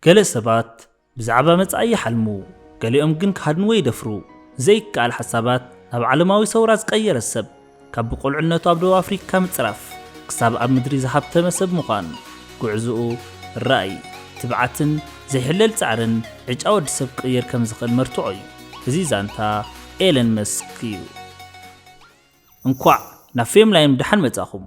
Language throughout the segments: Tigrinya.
ገለ ሰባት ብዛዕባ መጻኢ ይሓልሙ፣ ገሊኦም ግን ክሃድንዎ ይደፍሩ። ዘይከኣል ሓሳባት ናብ ዓለማዊ ሰውራ ዝቀየረ ሰብ ካብ ብቁልዕነቱ ኣብ ደቡብ ኣፍሪካ ምጽራፍ ክሳብ ኣብ ምድሪ ዝሃብተመ ሰብ ምዃን ጉዕዝኡ ራእይ፣ ትብዓትን ዘይሕለል ጻዕርን ዕጫ ወዲ ሰብ ክቕይር ከም ዝኽእል መርትዖ እዩ። እዚ ዛንታ ኤለን መስክ እዩ። እንኳዕ ናብ ፌም ላይም ደሓን መጻኹም።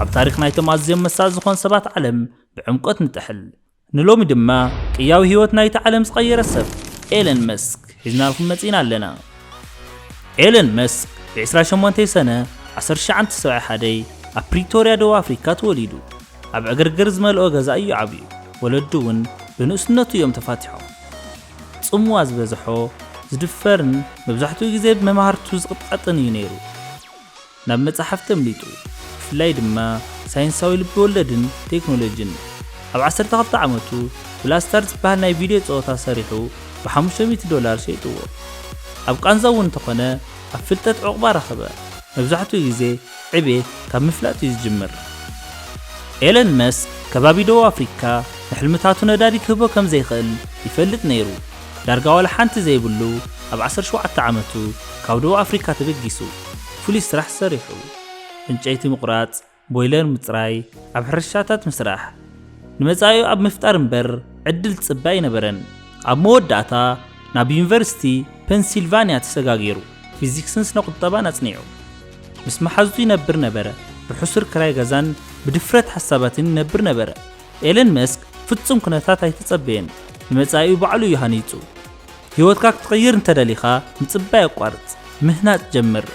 ኣብ ታሪኽ ናይቶም ኣዝዮም መሳጢ ዝኾኑ ሰባት ዓለም ብዕምቆት ንጥሕል። ንሎሚ ድማ ቅያዊ ህይወት ናይቲ ዓለም ዝቐየረ ሰብ ኤለን መስክ ሒዝናልኩም መጺእና ኣለና። ኤለን መስክ ብ ዕስራ ሸሞንተይ ሰነ ዓሰርተ ትሽዓን ተሰብዒ ሓደይ ኣብ ፕሪቶርያ ደቡብ ኣፍሪካ ተወሊዱ። ኣብ ዕግርግር ዝመልኦ ገዛ እዩ ዓብዩ። ወለዱ እውን ብንእስነቱ እዮም ተፋቲሖም። ጽምዋ ዝበዝሖ፣ ዝድፈርን መብዛሕትኡ ግዜ ብመማህርቱ ዝቕጥቐጥን እዩ ነይሩ። ናብ መጻሕፍቲ ኣምሊጡ፣ ብፍላይ ድማ ሳይንሳዊ ልቢ-ወለድን ቴክኖሎጂን። ኣብ ዓሰርተ ክልተ ዓመቱ ብላስታር ዝበሃል ናይ ቪድዮ ጸወታ ሰሪሑ ብሓሙሽተ ሚእቲ ዶላር ሸይጥዎ። ኣብ ቃንዛ እውን እንተኾነ ኣብ ፍልጠት ዑቕባ ረኸበ፣ መብዛሕትኡ ግዜ ዕቤት ካብ ምፍላጥ እዩ ዝጅምር። ኤለን መስክ ከባቢ ደቡብ ኣፍሪካ ንሕልምታቱ ነዳዲ ክህቦ ከም ዘይክእል ይፈልጥ ነይሩ። ዳርጋ ዋላ ሓንቲ ዘይብሉ ኣብ ዓሰርተ ሸውዓተ ዓመቱ ካብ ደቡብ ኣፍሪካ ተበጊሱ ፍሉይ ስራሕ ሰሪሑ። ዕንጨይቲ ምቑራፅ፣ ቦይለር ምፅራይ፣ ኣብ ሕርሻታት ምስራሕ። ንመፃኢኡ ኣብ ምፍጣር እምበር ዕድል ዝፅበ ኣይነበረን። ኣብ መወዳእታ ናብ ዩኒቨርሲቲ ፐንሲልቫኒያ ተሰጋጊሩ። ፊዚክስን ስነ-ቁጠባን ኣጽኒዑ። ምስ መሓዙቱ ይነብር ነበረ፣ ብሕሱር ክራይ ገዛን ብድፍረት ሓሳባትን ይነብር ነበረ። ኤለን መስክ ፍጹም ኩነታት ኣይተጸበየን፣ ንመጻኢኡ ባዕሉ እዩ ሃኒጹ። ህይወትካ ክትቕይር እንተ ደሊኻ፣ ምጽባይ ኣቋርጽ፣ ምህናጽ ጀምር።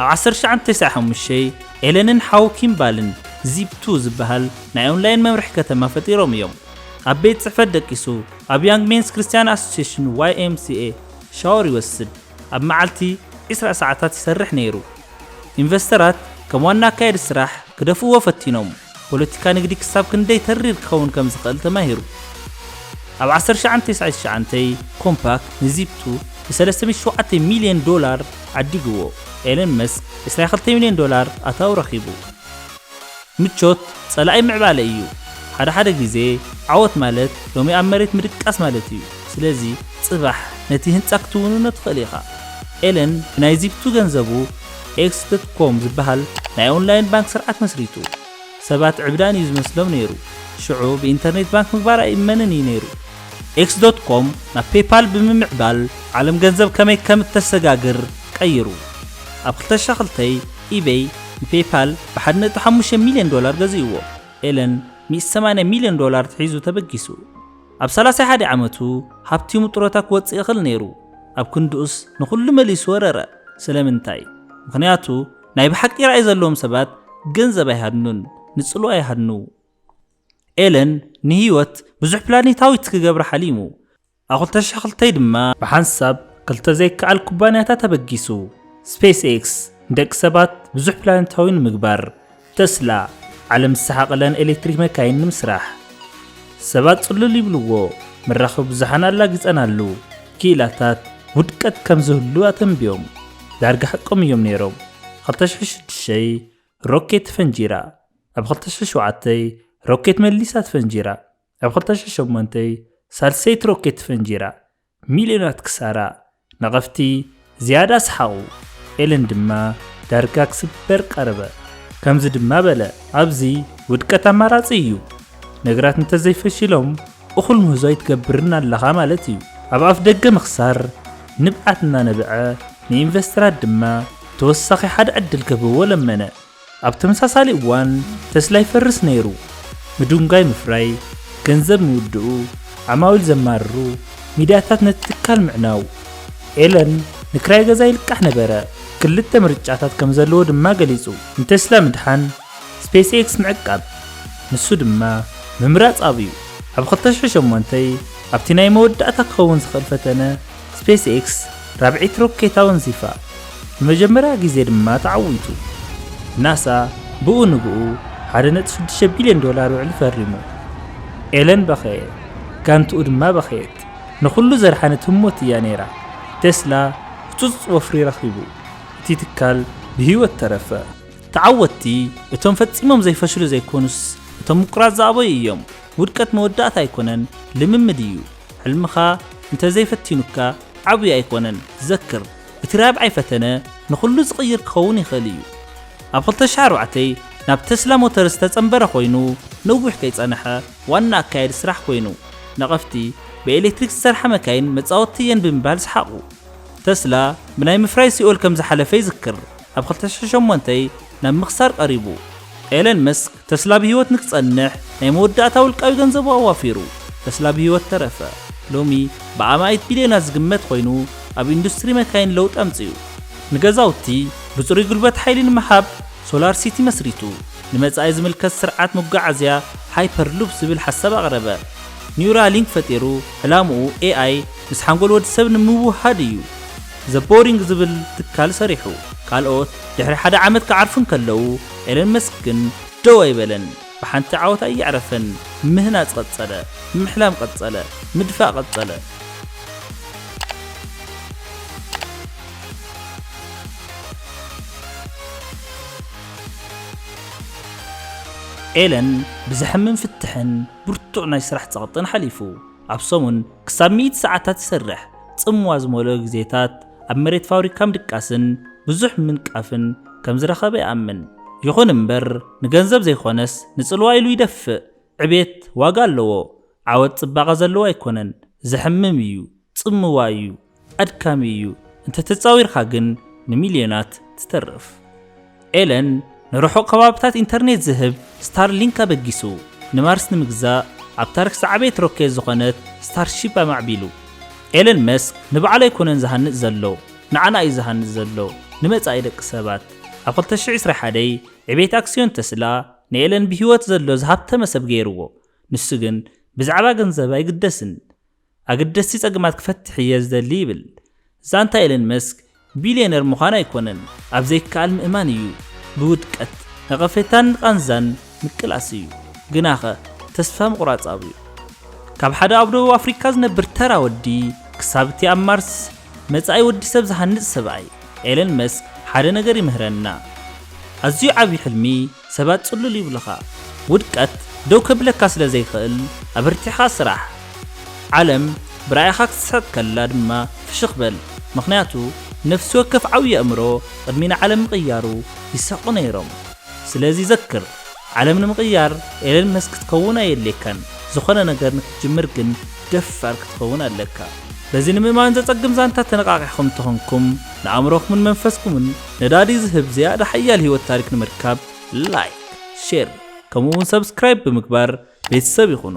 ኣብ ዓሰርተ ትሽዓን ተስዓን ሓሙሽተን፣ ኤለንን ሓው ኪም ባልን ዚፕ ቱ ዝበሃል ናይ ኦንላይን መምርሒ ከተማ ፈጢሮም እዮም። ኣብ ቤት ጽሕፈት ደቂሱ፣ ኣብ ያንግ ሜንስ ክርስትያን ኣሶሴሽን፣ YMCA፣ ሻወር ይወስድ። ኣብ መዓልቲ ዕስራ ሰዓታት ይሰርሕ ነይሩ። ኢንቨስተራት ከም ዋና ኣካያዲ ስራሕ ክደፍእዎ ፈቲኖም። ፖለቲካ ንግዲ ክሳብ ክንደይ ተሪር ክኸውን ከም ዝኽእል ተማሂሩ። ኣብ ዓሰርተ ሸውዓተ ተስዓይ ትሽዓንተይ ኮምፓክ ንዚፕቱ ብ ሰለስተ ሚእቲ ሸውዓተ ሚልዮን ዶላር ዓዲግዎ። ኤለን መስክ ዕስራ ክልተ ሚልዮን ዶላር ኣታዊ ረኺቡ። ምቾት ጸላኢ ምዕባለ እዩ ሓደ ሓደ ግዜ ዓወት ማለት ሎሚ ኣብ መሬት ምድቃስ ማለት እዩ ስለዚ ጽባሕ ነቲ ህንጻ ክትውንኖ ትኽእል ኢኻ ኤለን ብናይ ዚግቱ ገንዘቡ ኤክስ ዶት ኮም ዝበሃል ናይ ኦንላይን ባንክ ስርዓት መስሪቱ ሰባት ዕብዳን እዩ ዝመስሎም ነይሩ ሽዑ ብኢንተርኔት ባንክ ምግባር ኣይእመንን እዩ ነይሩ ኤክስ ዶት ኮም ናብ ፔይፓል ብምምዕባል ዓለም ገንዘብ ከመይ ከም እተሰጋግር ቀይሩ ኣብ ክልተ ሽሕ ክልተ። ኢበይ ንፔይፓል ብሓደ ነጥቢ ሓሙሽተ ሚልዮን ዶላር ገዚእዎ፣ ኤለን ሚእቲ ሰማንያ ሚልዮን ዶላር ኣትሒዙ ተበጊሱ። ኣብ ሰላሳይ ሓደ ዓመቱ ሃብቲሙ ጡረታ ክወጽእ ይኽእል ነይሩ፣ ኣብ ክንድኡስ ንኹሉ መሊሱ ወረረ። ስለምንታይ? ምኽንያቱ ናይ ብሓቂ ራእይ ዘለዎም ሰባት ገንዘብ ኣይሃድኑን፣ ንጽልዋ ይሃድኑ። ኤለን ንህይወት ብዙሕ ፕላኔታዊት ክገብራ ሓሊሙ። ኣብ ክልተ ሽሕ ክልተ ድማ ብሓንሳብ ክልተ ዘይከኣል ኩባንያታት ኣበጊሱ፣ ስፔስ ኤክስ ንደቂ ሰባት ብዙሕ ፕላኔታዊ ንምግባር፣ ተስላ ዓለም ዝሰሓቐለን ኤሌክትሪክ መካይን ንምስራሕ። ሰባት ጽሉል ይብልዎ መራኸቢ ብዙሓን ኣላጊጸናሉ ክኢላታት ውድቀት ከም ዝህሉ ኣተንብዮም። ዳርጋ ሓቆም እዮም ነይሮም። ክልተ ሽሕ ሽዱሽተ ሮኬት ተፈንጂራ፣ ኣብ ክልተ ሽሕ ሸውዓተ ሮኬት መሊሳ ተፈንጂራ። ኣብ ክልተ ሽሕን ሸሞንተን ሳልሰይቲ ሮኬት ተፈንጂራ፣ ሚልዮናት ክሳራ፣ ነቐፍቲ ዝያዳ ሰሓቑ፣ ኤለን ድማ ዳርጋ ክስበር ቀረበ። ከምዚ ድማ በለ፣ ኣብዚ ውድቀት ኣማራጺ እዩ። ነገራት እንተ ዘይፈሺሎም እኹል ምህዞ ኣይትገብርን ኣለኻ ማለት እዩ። ኣብ ኣፍደገ ምኽሳር ንብዓት እናነበዐ ንኢንቨስተራት ድማ ተወሳኺ ሓደ ዕድል ክህብዎ ለመነ። ኣብ ተመሳሳሊ እዋን ተስላ ይፈርስ ነይሩ፣ ምድንጓይ ምፍራይ፣ ገንዘብ ምውድኡ፣ ዓማዊል ዘማርሩ ሚድያታት ነቲ ትካል ምዕናው። ኤለን ንክራይ ገዛ ይልቃሕ ነበረ፣ ክልተ ምርጫታት ከም ዘለዎ ድማ ገሊጹ። ንተስላ ምድሓን፣ ስፔስኤክስ ምዕቃብ። ንሱ ድማ ምምራጽ ኣብዩ። ኣብ ክልተ ሽሕን ሸሞንተይ ኣብቲ ናይ መወዳእታ ክኸውን ዝኽእል ፈተነ፣ ስፔስ ኤክስ ራብዒት ሮኬት ኣወንዚፋ፣ ንመጀመርያ ግዜ ድማ ተዓዊቱ። ናሳ ብኡ ንብኡ ሓደ ነጥቢ ሽዱሽተ ቢልዮን ዶላር ውዕሊ ፈሪሙ። ኤለን በኸየ፣ ጋንትኡ ድማ በኸየት። ንኹሉ ዘድሓነት ህሞት እያ ነይራ። ቴስላ ህጹጽ ወፍሪ ረኺቡ፣ እቲ ትካል ብህይወት ተረፈ። ተዓወትቲ እቶም ፈጺሞም ዘይፈሽሉ ዘይኮኑስ እቶም ምቁራጽ ዝኣበዩ እዮም። ውድቀት መወዳእታ ኣይኮነን፣ ልምምድ እዩ። ሕልምኻ እንተዘይ ፈቲኑካ ዓብዩ ኣይኮነን ዘክር እቲ ራብዓይ ፈተነ ንኹሉ ዝቕይር ክኸውን ይኽእል እዩ ኣብ ክልተ ሽሕ ኣርባዕተ ናብ ተስላ ሞተርስ ዝተጸንበረ ኮይኑ ነዊሕ ከይጸነሐ ዋና ኣካያዲ ስራሕ ኮይኑ ነቐፍቲ ብኤሌክትሪክ ዝሰርሓ መካይን መጻወቲ እየን ብምባል ሰሓቑ ተስላ ብናይ ምፍራይ ሲኦል ከምዝሓለፈ ይዝክር ኣብ ክልተ ሽሕ ሸሞንተ ናብ ምኽሳር ቀሪቡ ኤለን መስክ ተስላ ብህይወት ንክጸንሕ ናይ መወዳእታ ውልቃዊ ገንዘቡ ኣዋፊሩ። ተስላ ብህይወት ተረፈ። ሎሚ ብኣማኢት ቢልዮናት ዝግመት ኮይኑ ኣብ ኢንዱስትሪ መካይን ለውጢ ኣምጺኡ። ንገዛውቲ ብጽሩይ ጉልበት ሓይሊ ንምሃብ ሶላር ሲቲ መስሪቱ። ንመጻኢ ዝምልከት ስርዓት መጓዓዝያ ሃይፐር ሉፕ ዝብል ሓሳብ ኣቕረበ። ኒውራሊንክ ፈጢሩ ዕላምኡ ኤኣይ ምስ ሓንጎል ወዲ ሰብ ንምውህሃድ እዩ። ዘ ቦሪንግ ዝብል ትካል ሰሪሑ። ካልኦት ድሕሪ ሓደ ዓመት ክዓርፉ እንከለዉ ኤለን መስክ ግን ደው ኣይበለን። ብሓንቲ ዓወት ኣየዕረፈን። ምህናጽ ቀጸለ። ምሕላም ቀጸለ። ምድፋእ ቀጸለ። ኤለን ብዘሕምም ፍትሕን ብርቱዕ ናይ ስራሕ ጸቕጥን ሓሊፉ። ኣብ ሰሙን ክሳብ ሚእቲ ሰዓታት ይሰርሕ። ጽምዋ ዝመልኦ ግዜታት ኣብ መሬት ፋብሪካ ምድቃስን ብዙሕ ምንቃፍን ከም ዝረኸበ ይኣምን። ይኹን እምበር ንገንዘብ ዘይኮነስ ንጽልዋ ኢሉ ይደፍእ። ዕቤት ዋጋ ኣለዎ። ዓወት ጽባቐ ዘለዎ ኣይኮነን። ዘሕምም እዩ። ጽምዋ እዩ። ኣድካሚ እዩ፣ እንተ ተጻዊርካ ግን ንሚልዮናት ትተርፍ። ኤለን ንርሑቕ ከባቢታት ኢንተርኔት ዝህብ ስታርሊንክ ኣበጊሱ፣ ንማርስ ንምግዛእ ኣብ ታሪኽ ዝዓበየት ሮኬት ዝኾነት ስታርሺፕ ኣማዕቢሉ። ኤለን መስክ ንባዕሉ ኣይኮነን ዝሃንጽ ዘሎ፣ ንዓና እዩ ዝሃንጽ ዘሎ፣ ንመጻኢ ደቂ ሰባት። ኣብ ክልተ ሽሕ ዕስራ ሓደይ ዕብየት ኣክስዮን ተስላ ንኤለን ብህይወት ዘሎ ዝሃብተመ ሰብ ገይርዎ። ንሱ ግን ብዛዕባ ገንዘብ ኣይግደስን። ኣገደስቲ ጸገማት ክፈትሕ እየ ዝደሊ ይብል። ዛንታ ኤለን መስክ ቢልየነር ምዃን ኣይኮነን፣ ኣብ ዘይከኣል ምእማን እዩ። ብውድቀት፣ ነቐፌታን ቓንዛን ምቅላስ እዩ። ግናኸ ተስፋ ምቑራጽ ኣብዩ። ካብ ሓደ ኣብ ደቡብ ኣፍሪቃ ዝነብር ተራ ወዲ ክሳብ እቲ ኣብ ማርስ መጻኢ ወዲሰብ ዝሃንጽ ሰብኣይ፣ ኤለን መስክ ሓደ ነገር ይምህረና። ኣዝዩ ዓቢ ሕልሚ፣ ሰባት ጽሉል ይብሉኻ፣ ውድቀት ደው ከብለካ ስለ ዘይክእል ኣበርቲዕኻ ስራሕ። ዓለም ብራኢኻ ክትስሕቕ ከላ ድማ ፍሽኽ በል፣ ምኽንያቱ ነፍሲ ወከፍ ዓብዪ ኣእምሮ ቅድሚ ንዓለም ምቕያሩ ይስሕቑ ነይሮም። ስለዚ ዘክር፣ ዓለም ንምቕያር ኤለን መስክ ክትከውን ኣየድልየካን፣ ዝኾነ ነገር ንክትጅምር ግን ደፋር ክትኸውን ኣለካ። በዚ ንምእማን ዘጸግም ዛንታ ተነቓቒሕኩም እንተኾንኩም፣ ንኣእምሮኹምን መንፈስኩምን፣ ነዳዲ ዝህብ ዝያዳ ሓያል ህይወት ታሪክ ንምርካብ ላይክ ሼር ከምኡ እውን ሰብስክራይብ ብምግባር ቤተሰብ ይኹኑ።